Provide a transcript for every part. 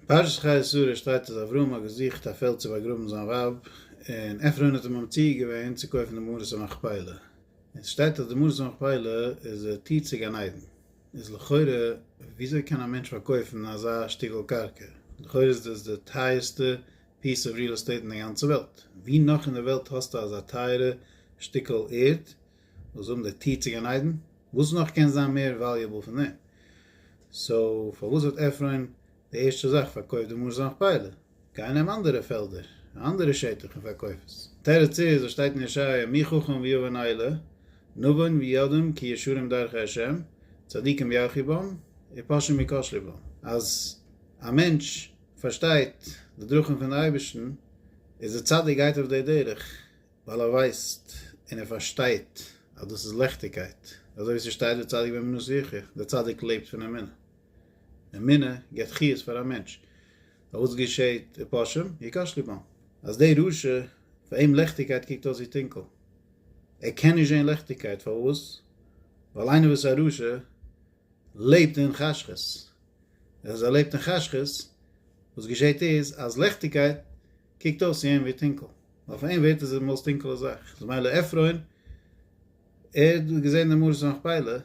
אין פרשת חיי שרה שטייט אז אברהם האט געזוכט א פעלד צו באגראבן זיין ווייב, און עפרון האט אים ממציע געווען צו קויפן די מערת המכפילה, און ס'שטייט אז די מערת המכפילה איז די טיר צו גן עדן, איז לכאורה וויאזוי קען א מענטש פארקויפן אזא שטיקל קרקע, לכאורה איז דאס די טייערסטע פיס אוו ריעל עסטעיט אין די גאנצע וועלט, ווי נאך אין די וועלט האסטו אזא טייערע שטיקל ערד? וואס זאגן די טיר צו גן עדן? וואס נאך קען זיין מער וועליעבל פון דעם? סאו פארוואס האט עפרון די ערשטע זאך פארקויפט די מארז נאכפייעלע? גיי נעם אנדערע פעלדער, א אנדערע שטח און פארקויף עס. תירוץ איז וואס שטייט אין ישעיה מי חכם ויבן אלה נבון וידום כי ישרים דרכי ה' צדיקים ירחי בם ופושעים יכשלי בם אז א מענטש פארשטייט די דרכים פון די אייבערשטן איז ער צדיק גייט אויף די דרך ווייל ער ווייסט און ער פארשטייט אז דאס איז לעכטיגקייט, אזוי ווי ס'שטייט וצדיק באמונו יחיה, דער צדיק לעבט פון אמונה, אמונה געבט חיות פאר א מענטש, נאר וואס געשעהט, ופושעים יכאש לבם, אז דער רשע פאר אים לעכטיגקייט קוקט אויס ווי טונקל, ער קען נישט זעהן לעכטיגקייט, פארוואס? ווייל איינער וואס איז א רשע לעבט אין חשכות, און אז ער לעבט אין חשכות, וואס געשעהט איז אז לעכטיגקייט קוקט אויס צו אים ווי טונקל. אויף איין ווערט איז עס די מאוסט טונקעלע זאך, איז מילא עפרון, ער האט געזען די מערת המכפלה,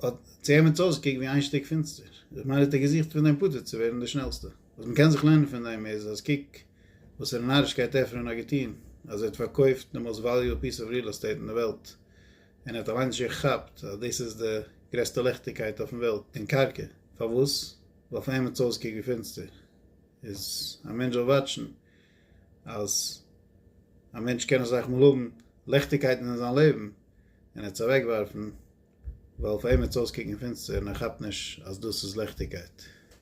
האט צו אים האט עס אויסגעקוקט ווי איין שטיק פינסטער, איז מילא האט ער געזוכט פון דעם פטור צו ווערן די שנעלסטע. וואס מען קען זיך לערנען פון דעם איז אז קוק וואסערע נארישקייט עפרון האט געטון, אז ער האט פארקויפט די מאוסט וואליועבל פיס אוו ריעל עסטעיט אין די וועלט, און ער האט אליינס שוין געכאפט אז דאס איז די גרעסטע ליכטיגקייט אויפן וועלט, דעם קרקע. פארוואס? ווייל פאר אים האט עס אויסגעקוקט ווי פינסטער. איז א מענטש זאל וואטשן. אז א מענטש קען אזאך מאל האבן ליכטיגקייטן אין זיין לעבן און ער האט עס אוועקווארפן ווייל פאר אים וועט עס אויסקוקן פינסטער און ער כאפט נישט אז דאס איז ליכטיגקייט.